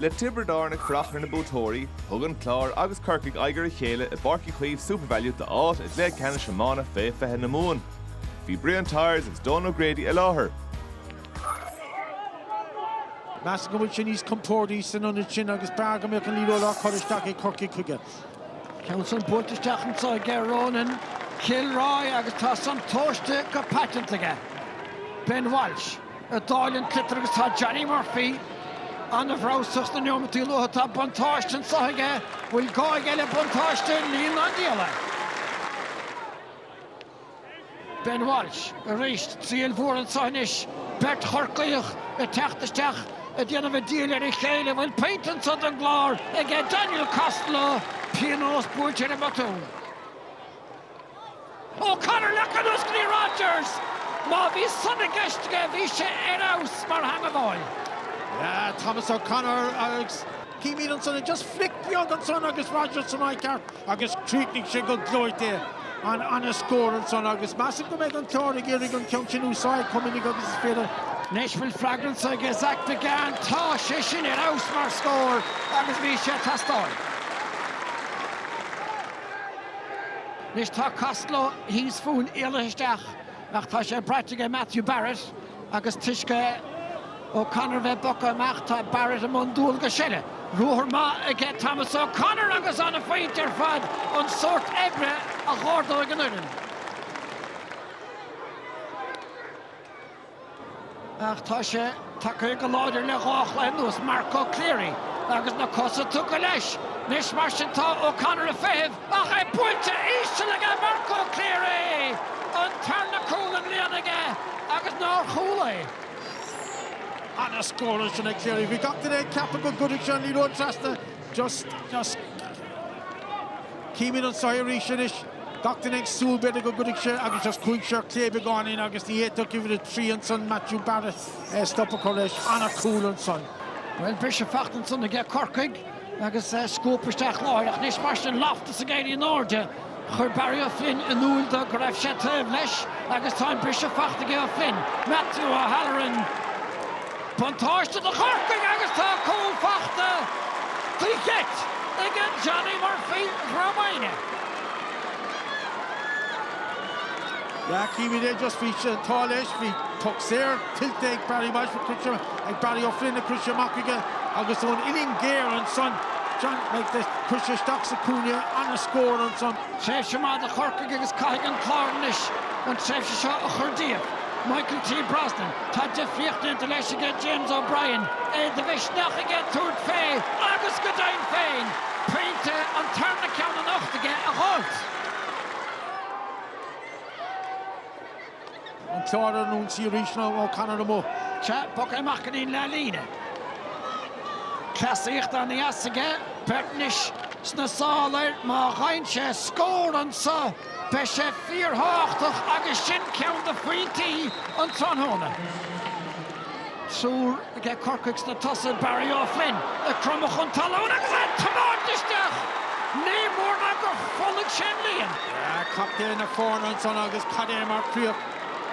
Le Tiobraid Árann ag fanacht ar na buaiteoirí, thug an Clár agus Corcaigh aghaidh ar a chéile i bPáirc Uí Chaoimh Supervalu d'áit i gcluiche ceannais iomána fé 20 na Mumhan. Bhí Brian Tyers agus Donal O'Grady i láthair. Measaim go bhfuil sé níos compórdaí san ionad sin agus b'fhearr go mbeadh an liathróid á cur isteach ag Corcaigh chuige. Ceann san buailte isteach anso aige Ronan Kilroy, agus tá san tomhaiste go paiteanta aige, Ben Walsh. ag dáileadh an tsliotair agus tá Johnny Murphy ana-bhreabhsach sna neomataí luatha. Tá buntáiste anseo aige, bhfuil gá aige le buntáiste níl ná diabhal é. Ben Walsh, arís, triail mhór anseo anois, beirt Chorcaíoch ag teacht isteach ag déanamh an diabhail ar a chéile, bhfuil pointe anseo don gClár aige Daniel Costello, pionós buailte ar an mbotún. O'Connor le conas Glee Rodgers! Má bhí san i gceist aige, bhí sé ar fheabhas mar theangmháil. Yeah, Thomas O'Connor agus. Címid ansan just flick beag ansan agus Rodgers san áit cheart agus chríochnaigh sé go gleoite. Ana scór ansan agus measaim go mbeidh an Clár ag iarraidh an ceann sin a úsáid chomh minic agus is féidir. Anois bhfuil freagra anso aige Zach Biggane, tá sé sin ar fheabhas mar scór agus bhí sé ag teastáil. Anois tá Costello thíos fúinn, éalaithe isteach, ach tá sé braite aige Matthew Barrett agus toisc O'Connor a bheith bogtha amach tá Barrett i mbun dualgais eile. Ruathar maith aige Thomas O'Connor agus ana phointe ar fad an sórt oibre a dh'ardóidh an fhoireann. ach tá sé tagtha go láidir le dhá chluiche anuas, Marco Cleary agus na cosa tugtha leis anois, mar sin tá O'Connor ag feitheamh ach é buailte íseal aige Marco Cleary! An tarna cúl i mbliana aige agus nár chúl é? Ana scór ansin ag Cleary. Bhí gach duine ag ceapadh go gcuirfidh sé an liathróid trasna. Just just. Címid anseo arís anois. Gach duine ag súil, b'fhéidir, go gcuirfidh sé agus just chuaigh sé fé chlé beagáinín agus ní fhéadfadh uimhir a trí ansan, Matthew Barrett, stop a chur leis. Ana chúl ansan. Bhuel, briseadh faighte ansan aige Corcaigh agus scuabtha isteach láithreach. Anois, mar sin, Loftus ag éirí in airde. Chuir Barry O'Flynn in iúl dó go raibh sé taobh leis agus tá an briseadh faighte aige O'Flynn, Matthew O'Halloran. Buntáiste do Chorcaigh agus tá cúl faighte faoi gheit ag an Johnny Murphy Dhrom Aidhne. Yeah, címid é just bhí sé an t-ádh leis, bhí puc saor tuillte ag Barry Walsh a cuid ag Barry O'Flynn ach chuir sé amach aige agus ón uillinn géar ansan Johnny do chuir sé isteach sa cúinne ana scór ansan. Tréimhse maith do Chorcaigh agus caithfidh an Clár anois an tréimhse seo a chur díobh. Michael T. Brosnan, tá difríocht déanta leis aige James O'Brien, é de mhisneach aige tabhairt fé agus go deimhin féin pointe an tarna ceann anocht aige a dhult. An Clár ar an ionsaí arís ná O'Connor amuigh. Chaith Buck é amach go dtí an leathlíne. Cleasaíocht an-dheas aige, beirt anois sna sála air, má gheibheann sé scór anso! Beidh sé fíorthábhachtach agus sin ceann de phointí an tráthnóna. Triúr aige Corcaigh sna tosaigh, Barry O'Flynn ag cromadh chun talún agus é ag tiomáint isteach. Ní mór ná gur phollaigh sé an líon. Captaen na foirne ansan agus cad é mar chríoch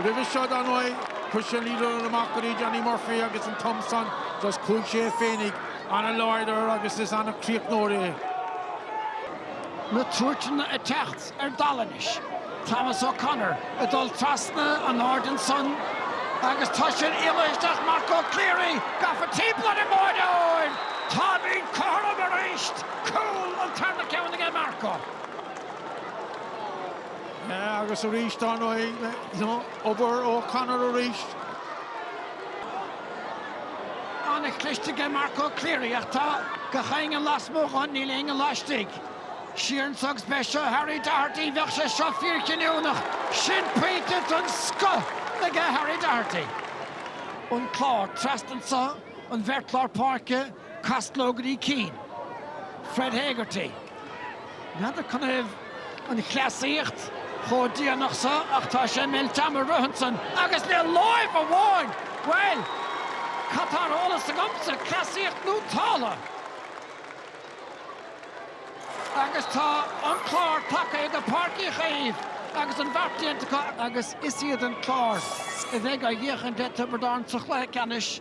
roimhe seo dar ndóigh. Chuir sé liathróid amach go dtí Danny Murphy agus an t-am san just chuaigh sé féinig ana-láidir agus is ana-chríochnóir é. na tuairteanna ag teacht ar dalladh anois, Thomas O'Connor ag dul trasna an aird ansan agus tá sé ina aonar isteach, Marco Cleary gafa timpeall ar an mbáireoir, táimid cothrom arís! Cúl an tarna ceann aige Marco. Agus arís, dár ndóigh. Obair O'Connor arís. An-chliste aige Marco Cleary ach tá gach éinne lasmuigh dhon, níl éinne laistigh. Siar anso agus b'é seo Harry Doherty, bheadh sé seo fíorchinniúnach. Sin pointe den scoth aige Harry Doherty. An Clár, trasna anso, an bheirt lár páirce. Costello go dtí Keane. Fred Hegarty. N'fheadar canathaobh an chleasaíocht chomh déanach so ach tá sé ag meilt ama a rith ansan agus le láimh amháin! Bhuel, cad tá ar eolas agamsa, cleasaíocht nó táille? Agus tá an Clár tagtha go Páirc Uí Chaoimh agus an beart déanta acu agus is iad an Clár a bheidh á dhíocháin de Thiobraid Árann sa chluiche ceannais.